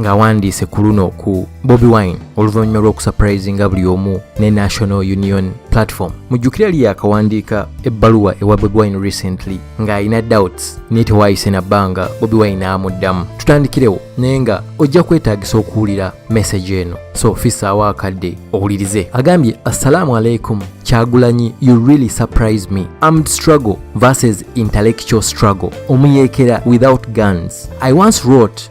ng'awandiise ku luno ku bobi wine oluvannyuma lw'okusaprayizinga buli omu ne national union platform mujjukire yali yakawandiika ebbaluwa ewa bobi wine recently ng'alina doubts naye tewaayise na bbanga bobi wine n'amuddamu tutandikirewo naye nga ojja kwetaagisa okuwulira meseji eno so fissaawo akadde owulirize agambye assalaamu aleikum kyagulanyi you really surprise me armed struggle versus intellectual struggle omuyeekera without guns i once wrote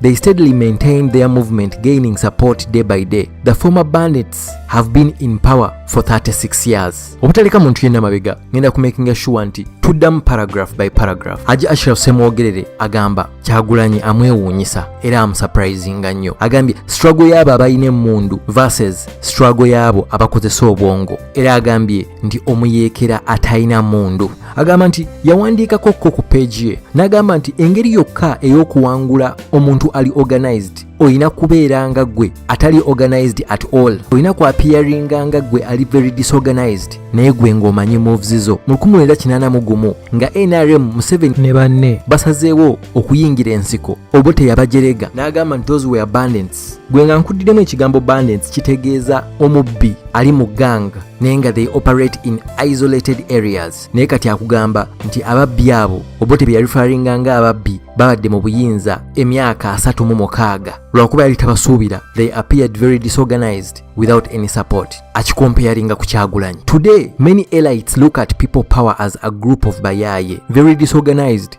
They steadily maintained their movement, gaining support day by day. The former bandits have been in power for 36 years. Obutaleka muntu yenna mabega, ngenda ku making sure nti tuddamu paragraph by paragraph. Haji Ashraf Semwogerere agamba Kyagulanyi amwewuunyisa era amusurprisinga nnyo. Agambye struggle y'abo abalina emmundu versus struggle y'abo abakozesa obwongo. Era agambye nti omuyeekera atalina mundu agamba nti yawandiikako ko ku peegi ye n'agamba nti engeri yokka ey'okuwangula omuntu ali organized olina kubeera nga gwe atali organized at all olina ku apiyaringa nga gwe ali very disorganized naye gwe ng'omanyi moves zo mu 1981 nga nrm museveni ne banne basazeewo okuyingira ensiko obote yabajerega n'agamba nti those were abundance bandits gwe nga nkuddidemu ekigambo bandits kitegeeza omubbi ali mu gang naye nga they operate in isolated areas naye kati akugamba nti ababbi abo obote bye yalifaringa nga ababbi babadde mu buyinza emyaka asatu mu mukaaga lwakuba yali tabasuubira they appeared very disorganized without any support akikompeyaringa ku kyagulanyi today many elites look at people power as a group of bayaye very disorganized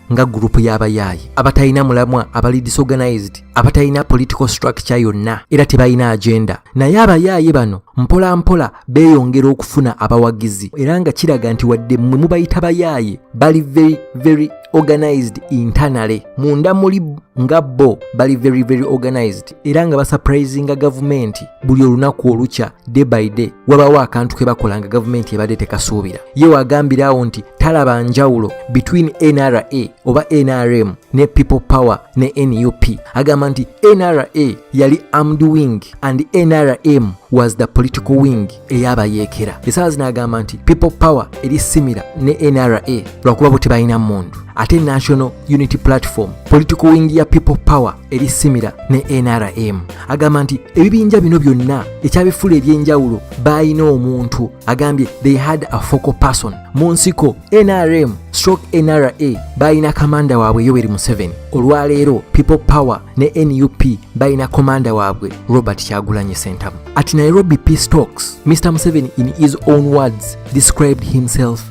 nga gurupu y'abayaaye abatalina mulamwa abali disorganized abatalina political structure yonna era tebalina agenda naye abayaaye bano mpola mpola beeyongera okufuna abawagizi era nga kiraga nti wadde mwe mubayita bayaaye bali very very organized internally munda muli nga bo bali very very organized era nga basapurayizinga gavumenti buli olunaku olukya day by day wabaawo akantu ke bakola nga gavumenti ebadde tekasuubira ye wagambira awo nti talaba njawulo between nra oba nrm ne people power ne nup agamba nti nra yali armed wing and nrm was the political wing eyabayeekera esaawa zino agamba nti people power eri simira ne nra lwakuba bo tebalina mundu ate national unity platform political wing ya people power eri simira ne nrm agamba nti ebibinja bino byonna ekyabifula ebyenjawulo baalina omuntu agambye they had a focal person mu nsiko nrm stroke nra baalina kamanda waabwe yoweri museveni olwaleero people power ne nup balina komanda waabwe robert kyagulanyi sentamu at nairobi peace talks mr museveni in his own words described himself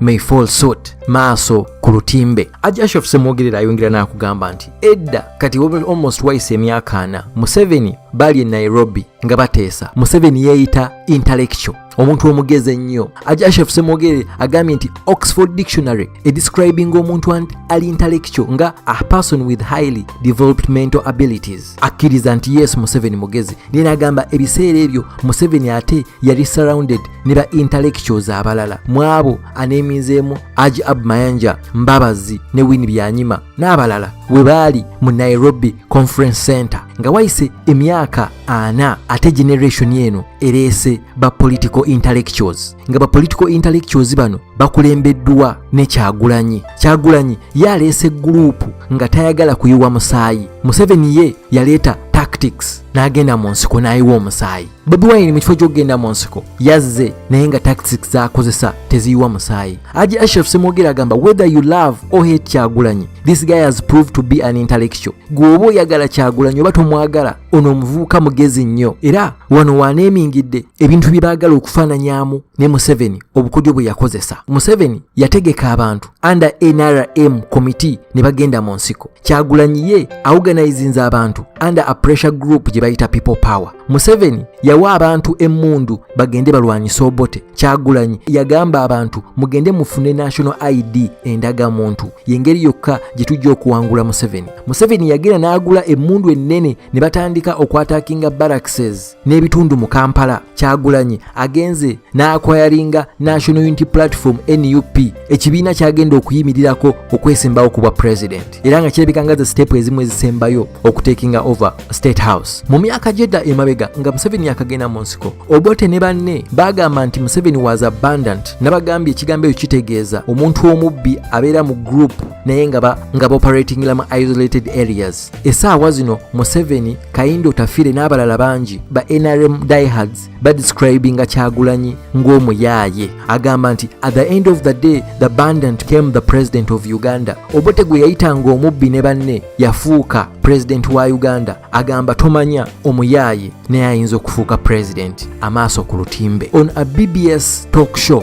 may fall suit maaso ku lutimbe ajashof semwogerera ayongera n'akugamba nti edda kati almost wise emyaka ana museveni bali e nairobi nga bateesa museveni yeeyita intellectual omuntu omugezi ennyo ajashof semwogere agambye nti oxford dictionary edescribing omuntu ali intellectual nga a person with highly developed mental abilities akkiriza nti yes museveni mugezi naye nagamba ebiseera ebyo museveni ate yali surrounded ne ba intellectuals abalala mwabo aneeminzeemu aji ab mayanja mbabazi ne wini byanyima n'abalala we baali mu nairobi conference center nga wayise emyaka ana ate generation eno ereese ba political intellectuals nga ba political intellectuals bano bakulembeddwa ne kyagulanyi kyagulanyi ye aleese guruupu nga tayagala kuyiwa musaayi museveni ye yaleeta tactics n'agenda mu nsiko n'ayiwa omusaayi bobi wine mu kifo ky'okugenda mu nsiko yazze naye nga tactics z'akozesa teziyiwa musaayi aji ashraf semwogera agamba whether you love or hate kyagulanyi this guy has proved to be an intellectual gwe oba oyagala kyagulanyi oba tomwagala ono omuvubuka mugezi nnyo era wano waneemingidde ebintu bye baagala okufaananyamu ne museveni obukodyo bwe yakozesa museveni yategeka abantu under nrm committee ne bagenda mu nsiko kyagulanyi ye awuganayizinza abantu under a pressure group gye bayita people power museveni yawa abantu emmundu bagende balwanyise obote kyagulanyi yagamba abantu mugende mufune national id endaga muntu yengeri yokka gye tujja okuwangula museveni museveni yagenda n'agula emmundu ennene ne batandika okwatakinga barrackses n'ebitundu mu kampala kyagulanyi agenze n'akwayaringa national unity platform nup ekibiina kyagenda okuyimirirako okwesembawo ku bwa president era nga kirabika nga za sitepu ezimu ezisembayo okutekinga over state house mu myaka gyedda emabega nga museveni yakagenda mu nsiko obote ne banne bagamba nti museveni was abundant nabagambye ekigambo ekyo kitegeeza omuntu omubbi abeera mu group naye nga baoperatingila mu isolated areas esaawa zino museveni kayindo tafire n'abalala bangi ba nrm diehards badescribinga kyagulanyi ng'omuyaaye agamba nti at the end of the day the bandant came the president of uganda obote gwe yayitanga omubbi ne banne yafuuka pulezidenti wa uganda agamba tomanya omuyaaye naye ayinza okufuuka pulezidenti amaaso ku lutimbe on a bbs talk show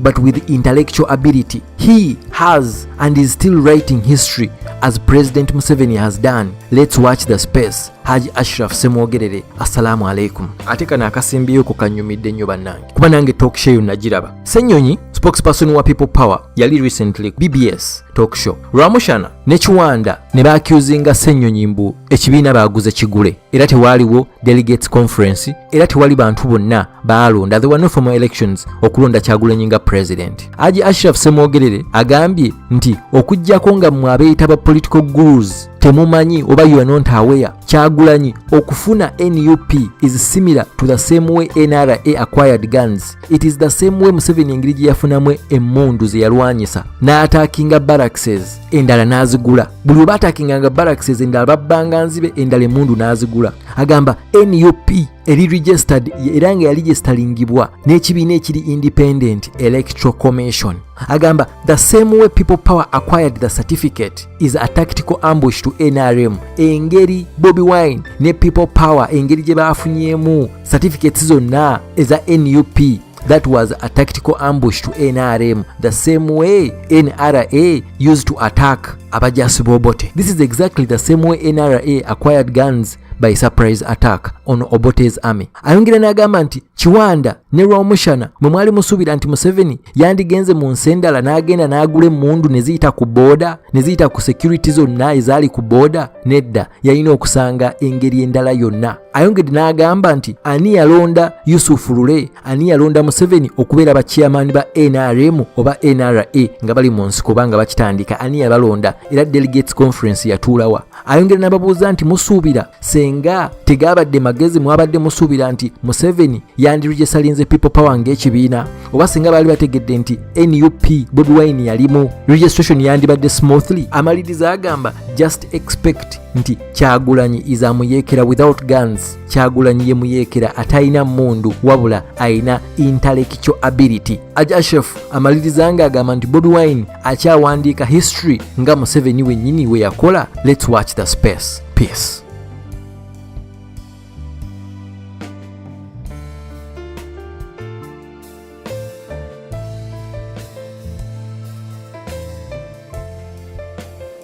but with intellectual ability. He has and is still writing history as President Museveni has done. Let's watch the space. Haji Ashraf Semwogerere, assalamu alaikum. Ate kano akasimbiyo ko kanyumidde nnyo bannange kuba nange talk show yo nagiraba. Senyonyi spokesperson wa People Power yali recently BBS talk show. Rwamushana ne Kiwanda ne baakyuzinga Senyonyi mbu ekibiina baaguze kigule era tewaaliwo delegates conference era tewali bantu bonna baalonda the were no formal elections okulonda kyagulanyi nga president aji ashraf semwogerere agambye nti okujjako nga mwe abeeyita ba political gurus temumanyi oba you are not aware kyagulanyi okufuna nup is similar to the same way nra acquired guns it is the same way museveni engeri gye yafunamu emmundu ze yalwanyisa n'ataakinga barrackses endala n'azigula buli oba atakinganga barracks ezendala babbanga nzibe endala emundu n'azigula agamba nup eri registered era nga yaligistalingibwa n'ekibiina ekiri independent electoral commission agamba the same way people power acquired the certificate is a tactical ambush to nrm engeri bobi wine ne people power engeri gye baafunyemu certificates zonna eza nup That was a tactical ambush to NRM, the same way NRA used to attack Abajasi Bobote. This is exactly the same way NRA acquired guns by surprise attack on Obote's army. Ayongera n'agamba nti Kiwanda ne Rwamushana mwe mwali musuubira nti Museveni yandigenze mu nsi endala n'agenda n'agula emmundu ne ziyita ku booda ne ziyita ku security zonna ezaali ku booda nedda yalina okusanga engeri endala yonna ayongedde n'agamba nti ani yalonda yusufu lule ani yalonda museveni okubeera bakiyamaani ba nrm oba nra nga bali mu nsiko oba nga bakitandika ani yabalonda era delegates conference yatuulawa ayongera n'ababuuza nti musuubira senga tegaabadde magezi mwabadde musuubira nti museveni yandirujesalinze people power ng'ekibiina oba senga baali bategedde nti nup bobi wine yalimu registration yandibadde smoothly amaliriza agamba just expect nti kyagulanyi is amuyekera without guns kyagulanyi ye muyekera atalina mundu wabula alina intellectual ability ajashef amaliriza nga agamba nti bobi wine akyawandiika history nga museveni wenyini we yakola let's watch the space peace